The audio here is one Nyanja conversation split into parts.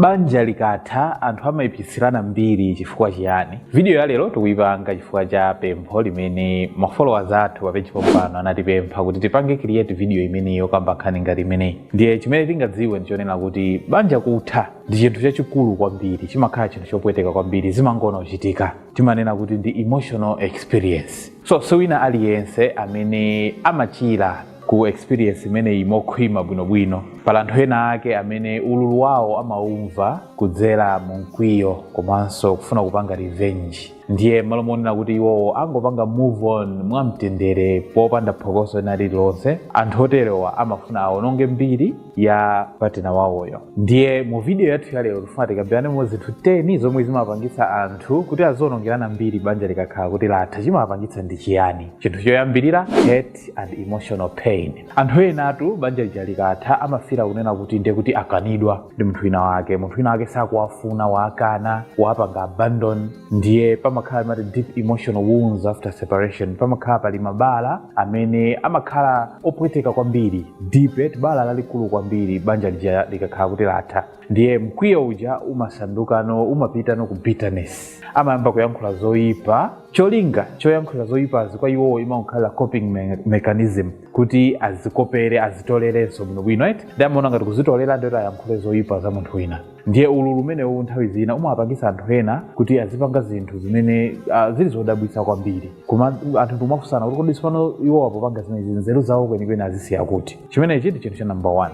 Banja likatha, anthu amaipitsirana mbiri chifukwa chiyani? Vidiyo ya lero tikuipanga chifukwa cha pempho limene ma followers athu pa page pompano anatipempha kuti tipange create vidiyo imeneyi yokamba nkhani ngati imeneyi. Ndiye chimene tingadziwe ndi chonena kuti banja kutha ndi chinthu chachikulu kwambiri, chimakhala chinthu chopweteka kwambiri, zimangoona kuchitika. Timanena kuti ndi emotional experience. So si wina aliyense amene amachira ku experience imeneyi mokhwima bwinobwino pali anthu ena ake amene ululu wawo amaumva kudzera mu mkwiyo komanso kufuna kupanga revenge ndiye mmalo monena kuti iwowo angopanga move on mwamtendere popanda phokoso ena lililonse anthu oterewa amafuna awononge mbiri ya patina wawoyo ndiye mu video yathu yalero tifuna tikambiranemo zinthu 10 zomwe zimapangitsa anthu kuti azionongerana mbiri banja likakhala kuti latha chimapangitsa ndi chiyani chinthu choyambirira hurt and emotional pain anthu enatu banja lija likatha amafila kunena kuti ndiye kuti akanidwa ndi munthu wina wake munthu wina wake sakuwafuna waakana wapanga abandon ndiye pamakhala ma deep emotional wounds after separation pamakhala pali mabala amene amakhala opweteka kwambiri deep bala lalikulu kwambiri banja lija likakhala kuti latha ndiye mkwiyo uja umasandukano umapitano ku bitterness amayamba kuyankhula zoyipa Cholinga choyankhulira zoipazi kwa iwowo imangokhala coping mechanism kuti azikopere azitolerenso bwinobwino eti ndiye amaona ngati kuzitolera ndi woti ayankhule zoipa za munthu wina ndiye ululu umenewu nthawi zina umawapangisa anthu ena kuti azipanga zinthu zimene ah, zili zodabwitsa kwambiri koma anthu nkumafunsana kuti kodi sipano iwo akupanga zimenezi nzeru zawo kwenikweni azisiya kuti chimenechi ndi chinthu cha namba 1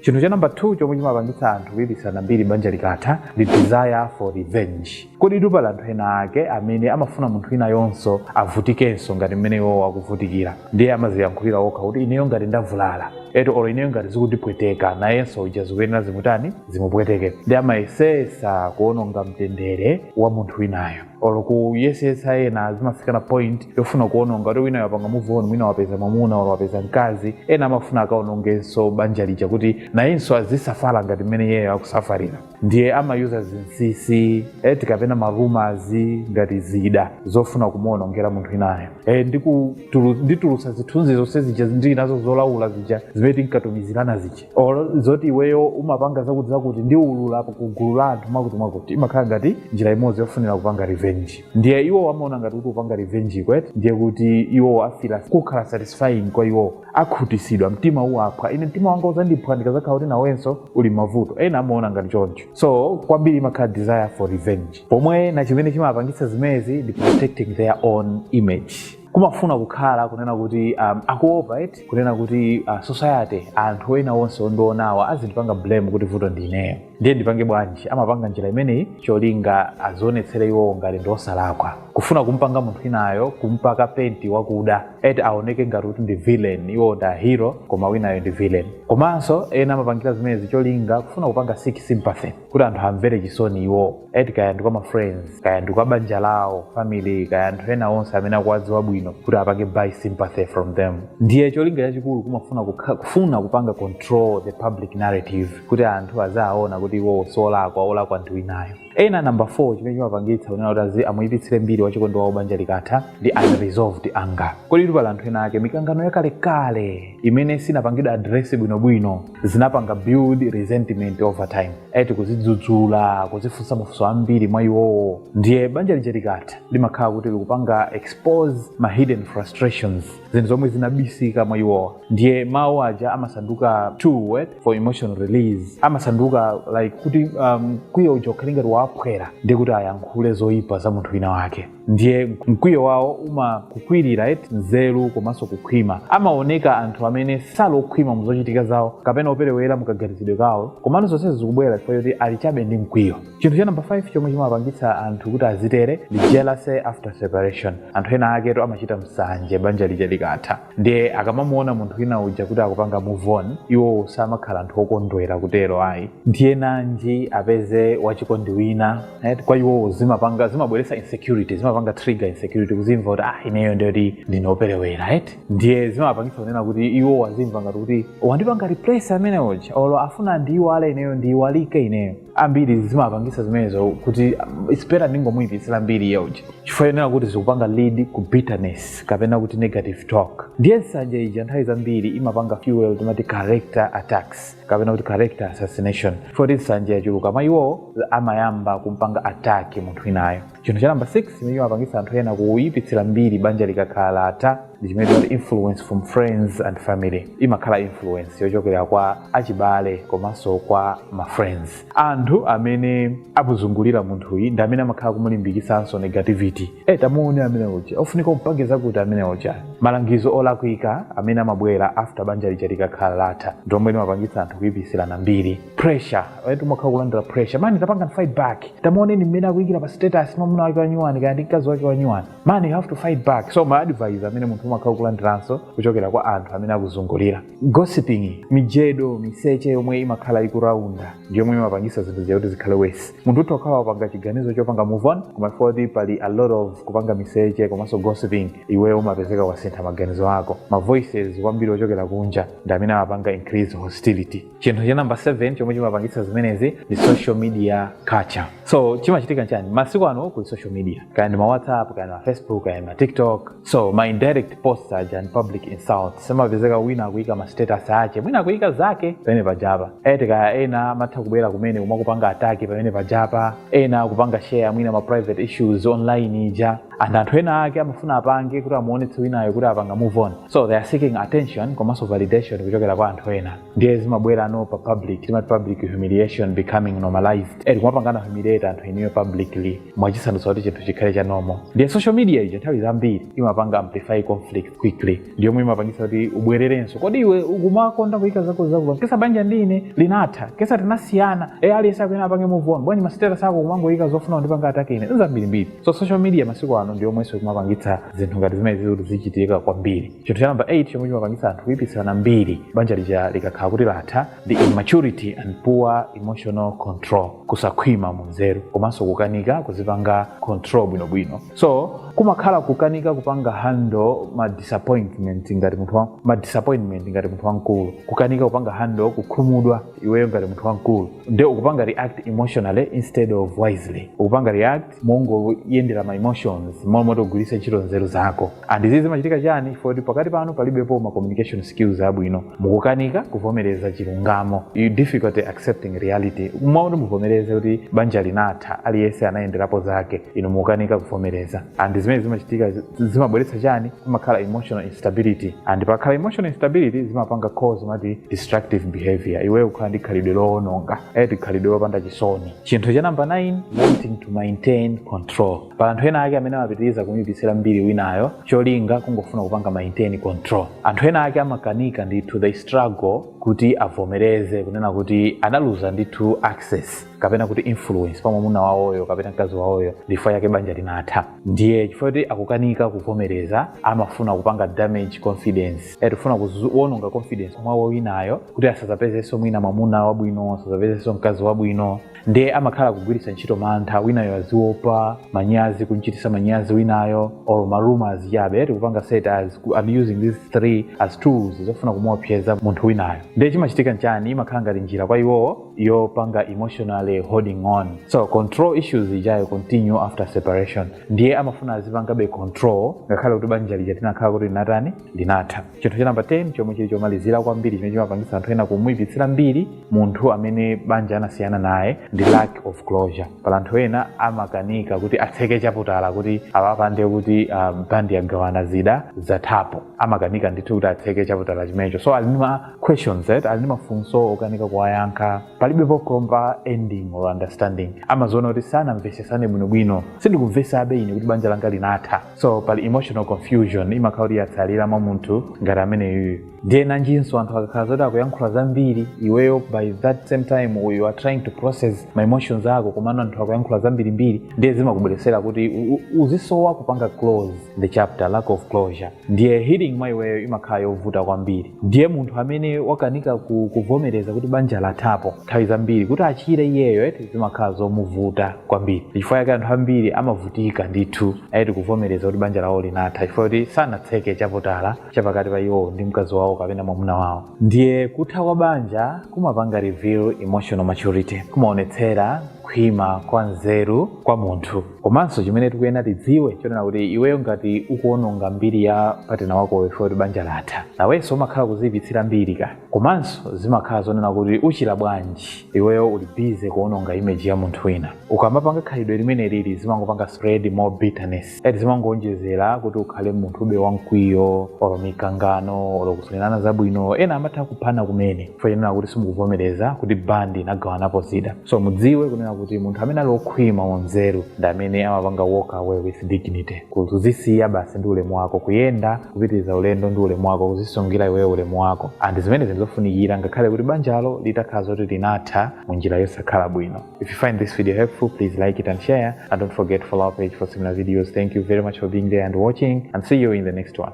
chinthu cha namba 2 chomwe chimapangitsa anthu kuipitsirana mbiri banja likatha ndi desire for revenge koditu pali anthu ena ake amene amafuna munthu winayonso avutikenso ngati mmene iwowo akuvutikira ndiye amaziyankhulira okha kuti ineyo ngati ndavulala eti olo ineyo ngati zikundipweteka nayenso uja zikuyenera zimutani zimupweteke ndiye amayesesa kuononga mtendere wa munthu winayo olo kuyesetsa ena zimafikana point yofuna kuononga kuti winayo wapanga move on mwina wapeza mwamuna olo wapeza mkazi ena amafuna akaonongenso banja lija kuti nayenso azisafala ngati mmene iyeyo akusafalira ndiye amayuza zinsisi eti kapena ma rumors ngati zida zofuna kumuonongera munthu winayo e, ndikutulu- nditulutsa zithunzi zonse zija ndili nazo zolaula zija zimene tinkatumizirana zija olo zoti iweyo umapanga zakuti zakuti ndiulula ku gulu la anthu mwakuti mwakuti imakhala ngati njira imodzi yofunira kupanga revenge ndiye iwo amaona ngati kuti kupanga revenge eti ndiye kuti iwo afila kukhala satisfying kwa iwo akhutisidwa mtima uwaphwa ine mtima wanga uzandiphwa ndikazakhala kuti nawenso uli mmavuto ena amaona ngati choncho so kwambiri imakhala desire for revenge point ina chimene chimapangitsa zimenezi ndi protecting their own image kumafuna kukhala kunena kuti um, akuopa eti kunena kuti uh, society anthu ena onse ondionawa azindipanga blame kuti vuto ndineyo ndiye ndipange bwanji amapanga njira imeneyi cholinga azionetsere iwowo ngati ndiosalakwa kufuna kumpanga munthu winayo kumpaka penti wakuda eti aoneke ngati kuti ndi villain iwo ndi hero koma winayo ndi villain komanso ena amapangira zimenezi cholinga kufuna kupanga seek sympathy kuti anthu amvere chisoni iwo eti kaya ndi kwa ma friends kaya ndi kwa banja lawo family kaya anthu ena onse amene akuwadziwa bwino kuti apange buy sympathy from them ndiye cholinga chachikulu kumafuna kukha- kufuna kupanga control the public narrative kuti anthu azaona kuti iwowo siolakwa olakwa ndi winayo ena namba 4 chimene chimapangitsa kunena kuti azi amuyipitsire mbiri wachikondi wawo banja likatha ndi unresolved anger kodi pali anthu ena ake mikangano yakalekale imene sinapangidwa address bwinobwino zinapanga build resentment over time eti kuzidzudzula kuzifunsa mafunso ambiri mwa iwowo ndiye banja lija likatha limakhala kuti likupanga expose ma hidden frustrations zinthu zomwe zinabisika mwa iwowo ndiye mawu aja amasanduka tool for emotional release amasanduka like kuti um, mkwiyo uja ukhale ngati waphwera ndi kuti ayankhule zoyipa za munthu wina wake ndiye mkwiyo wawo umakukwirira eti nzeru komanso kukhwima amaoneka anthu amene sali okhwima mu zochitika zawo kapena operewera mukaganizidwe kawo komano zonsezi zikubwera chifukwa choti ali chabe ndi mkwiyo chinthu cha namba 5 chomwe chimapangitsa anthu kuti azitere ndi jealousy after separation anthu ena ake eti amachita msanje banja lija likatha ndiye akamamuona munthu wina uja kuti akupanga move on iwowo samakhala anthu okondwera kutero ayi ndiye nanji apeze wachikondi wina right? kwa iwowo zimapanga zimabweretsa insecurity zimapanga trigger insecurity kuzimva kuti ah ineyo ndiye kuti ndinoperewera right? ndiye zimapangitsa kunena kuti iwowo azimva ngati kuti wandipanga replace amene uja olo afuna ndiiwale ineyo ndiiwalike ineyo ambiri zimapangisa zimenezo kuti um, it's better ndingomuyipitsira mbiri ya uja chifukwa yenera kuti zikupanga lead ku bitterness kapena kuti negative talk ndiye nsanje ija nthawi zambiri imapanga fuel zimati character attacks kapena kuti character assassination poti nsanje yachuluka mwa iwowo amayamba kumpanga attack munthu winayo chinthu cha namba 6 chimene chimapangitsa anthu ena kuyipitsira mbiri banja likakhala latha ndi chimene timati influence from friends and family imakhala influence yochokera kwa achibale komanso kwa ma friends anthu amene akuzungulira munthuyi ndi amene amakhala kumulimbikitsanso negativity e tamuone amene uja ofunika umpange zakuti amene uja malangizo olakwika amene amabwera after banja lija likakhala latha ndi omwe amapangitsa anthu kuyipitsirana mbiri pressure right umakhala kulandira pressure mani tapangani fight back tamuoneni mmene akuyikira pa status mwamuna wake wanyuwani kaya ndi mkazi wake wanyuwani mani you have to fight back so ma advice amene munthu umakhala kulandiranso kuchokera kwa anthu amene akuzungulira gossiping mijedo miseche yomwe imakhala ikuraunda ndi yomwe imapangisa zinthu zija kuti zikhale worse munthu utha kukhala wapanga chiganizo chopanga move on koma poti pali a lot of kupanga miseche komanso gossiping iwe umapezeka wasintha maganizo ako ma voices ambiri ochokera kunja ndi amene amapanga increase hostility chinthu cha namba 7 chomwe chimapangitsa zimenezi ndi social media culture so chimachitika nchani masiku ano kuli social media kaya ndi ma whatsapp kaya ndi ma facebook kaya ndi ma tiktok so ma indirect posts aja and public insults umapezeka wina akuyika ma status ache mwina akuyika zake pamene pajapa eti kaya ena amatha kubwera kumene kumakupanga attack pamene pajapa ena akupanga share mwina ma private issues online ija and anthu ena ake amafuna apange kuti amuonetse winayo kuti apanga move on so they are seeking attention komanso validation kuchokera kwa anthu ena ndiye zimabwerano pa public timati public humiliation becoming normalized eti kumapangana humiliate anthu inuyo publicly mwachisandutsa kuti chinthu chikhale cha normal ndiye social media ija nthawi zambiri imapanga amplify conflict quickly ndiyomwe imapangisa kuti ubwererenso kodi iwe ukumakonda kuyika zako zakuba yet banja ndi ine linatha yet tinasiyana e aliyense akuyenera apange move on bwanji ma status ako kumangoyika zofuna kundipanga attack ine zambirimbiri so social media masiku ano ndi yomwenso ikumapangitsa zinthu ngati zimenezi kuti zizichitika kwambiri chinthu cha namba 8 chomwe chimapangitsa anthu kuipitsirana mbiri banja lija likakhala kuti latha ndi immaturity and poor emotional control kusakhwima mu nzeru komanso kukanika kuzipanga control bwinobwino so kumakhala kukanika kupanga handle ma disappointment ngati munthu wa- ma disappointment ngati munthu wamkulu kukanika kupanga handle kukhumudwa iweyo ngati munthu wamkulu nde ukupanga react emotionally instead of wisely ukupanga react mongoyendera ma emotions mmalo moti ugwiritse ntchito nzeru zako and izi zimachitika chani poti pakati panu palibepo ma communication skills abwino mukukanika kuvomereza chilungamo you difficulty accepting reality mmalo moti muvomereze kuti banja linatha aliyense anayendera zake inu mukukanika kuvomereza and zimene zimachitika zi- zimabweretsa chani kumakhala emotional instability and pakakhala emotional instability zimapanga cause mati destructive behavior iweyo ukhala ndi khalidwe loononga eti khalidwe lopanda chisoni chinthu cha namba 9 wanting to maintain control pali anthu ena ake amene amapitiriza kumuyipitsira mbiri winayo cholinga kungofuna kupanga maintain control anthu ena ake amakanika ndithu they struggle kuti avomereze kunena kuti analuza ndithu access kapena kuti influence pa mwamuna wawoyo kapena mkazi wawoyo ndifukwa yake banja linatha ndiye chifukwa kuti akukanika kuvomereza amafuna kupanga damage confidence eti kufuna kuwononga confidence mwawo winayo kuti asazapezenso mwina mwamuna wabwino asazapezenso mkazi wabwino ndiye amakhala kugwiritsa ntchito mantha winayo aziopa manyazi kumchitisa manyazi winayo or ma rumour achabechabe eti kupanga set as I'm using these three as tools zofuna kumuopseza munthu winayo ndiye chimachitika nchani imakhala ngati njira kwa iwowo yopanga emotionally holding on so control issues ijayo continue after separation ndiye amafuna azipangabe control ngakhale kuti banja lija tinakhala kuti linatani linatha chinthu cha namba 10 chomwe chili chomalizira kwambiri chimene chimapangitsa anthu ena kumuyipitsira mbiri munthu amene banja anasiyana naye ndi lack of closure pali anthu ena amakanika kuti atseke chaputala kuti apange kuti um, bandi yagawana zida zathapo amakanika ndithu kuti atseke chaputala chimenecho so ali ndi ma Questions eti ali ndi mafunso okanika kuwayankha palibepo proper ending or understanding amaziona kuti sanamvesesane bwinobwino sindikumvesabe ine kuti banja langa linatha so pali emotional confusion imakhala kuti yatsalira mwa munthu ngati ameneyuyu ndiye nanjinso anthu akakhala zoti akuyankhula zambiri iweyo by that same time you are trying to process ma emotions ako komano anthu akuyankhula zambirimbiri ndiye zimakubweresera kuti u- u- uzisowa kupanga close the chapter lack of closure ndiye healing mwa iweyo imakhala yovuta kwambiri ndiye munthu amene wakanika ku, kuvomereza kuti banja lathapo nthawi zambiri kuti achire iyeyo eti zimakhala zomuvuta kwambiri chifukwa yake anthu ambiri amavutika ndithu eti kuvomereza kuti banja lawo linatha chifukwa kuti sanatseke chaputala chapakati pa iwowo ndi mkazi wawo kapena mwamuna wawo ndiye kutha kwa banja kumapanga reveal emotional maturity kumaonetsera kukhwima kwa nzeru kwa munthu komanso chimene tikuyenera tidziwe chonena kuti iweyo ngati ukuononga mbiri ya partner wakoyo chifukwa choti banja latha nawenso umakhala ukuziyipitsira mbiri ka komanso zimakhala zonena kuti uchira bwanji iweyo uli busy kuononga image ya munthu wina ukamapanga khalidwe limeneli zimangopanga spread more bitterness eti zimangoonjezera kuti ukhale munthu ube wamkwiyo olo mikangano olo kusafunirana zabwino ena amatha kuphana kumene chifukwa chonena kuti simukuvomereza kuti bandi inagawanapo zida so mudziwe kunena kuti munthu amene ali okhwima m'nzeru ndi amene amapanga walk away with dignity kuzisiya basi ndi ulemu wako kuyenda kupitiriza ulendo ndi ulemu wako kuzisungira iweyo ulemu wako and zimene zili zofunikira ngakhale kuti banjalo litakhala zoti linatha mu njira yosakhala bwino if you find this video helpful please like it and share and don't forget to follow our page for similar videos thank you very much for being there and watching and see you in the next one